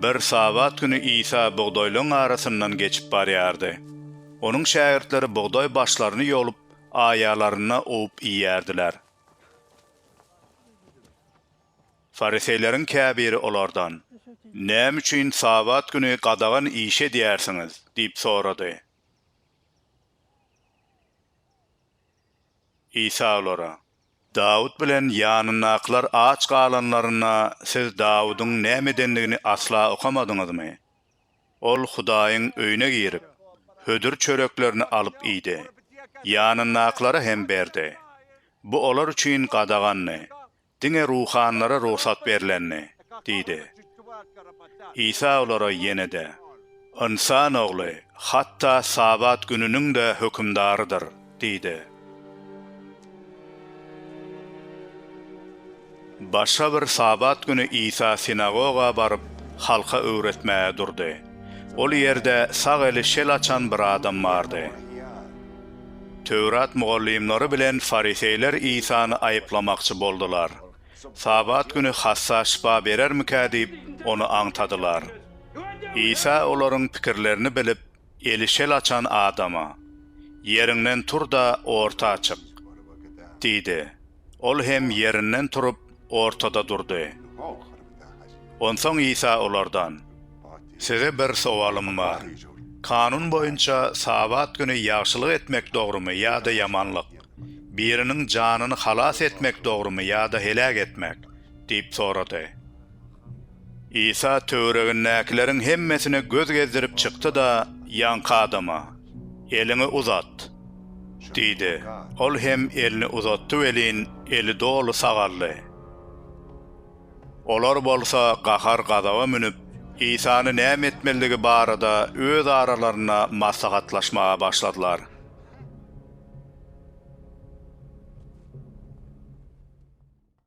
Bir Sabat güni Isa bugdaýlaryň arasyndan geçip barýardy. Onuň şägirtleri bugdaý başlaryny ýolup, aýalaryna owup iýýärdiler. Fariseýleriň käbiri olardan, Näme üçin Sabat güni gadagan iş edýärsiňiz? diýip sorady. Isa olara, Dawut bilen ýanyndakylar aç galanlarynda siz Dawudyň näme edendigini asla okamadyňyzmy? Ol Hudaýyň öýüne girip, hödür çöreklerini alyp iýdi, ýanyndakylara hem berdi. Bu olar üçin gadagandy, Diňe ruhanylara rugsat berlendi, diýdi. Isa olara ýene-de, Ynsan Ogly hatda Sabat gününiň-de hökümdarydyr, diýdi. Başga bir Sabat güni Isa sinagoga baryp, halka öwretmäge durdy. Ol ýerde sag eli şel açan bir adam bardy. Töwrat mugallymlary bilen fariseýler Isany aýyplamakçy boldular. Sabat güni hassa şypa berermikä diýip, ony aňtadylar. Isa olaryň pikirlerini bilip, eli şel açan adama, Ýeriňden tur-da, orta çyk! diýdi. Ol hem ýerinden turup, ortada durdy. Onsoň Isa olardan, Size bir sowalym bar. Kanun boýunça Sabat güni ýagşylyk etmek dogrumy ýa-da ýamanlyk, biriniň janyny halas etmek dogrumy ýa-da heläk etmek? diýip sorady. Isa töweregindäkileriň hemmesine göz gezdirip çykdy-da, ýaňky adama, Eliňi uzat! diýdi. Ol hem elini uzatdy welin, eli doly sagaldy. Olar bolsa gahar-gazaba münüp, Isany näme etmelidigi barada öz aralarynda maslahatlaşmaga başladylar.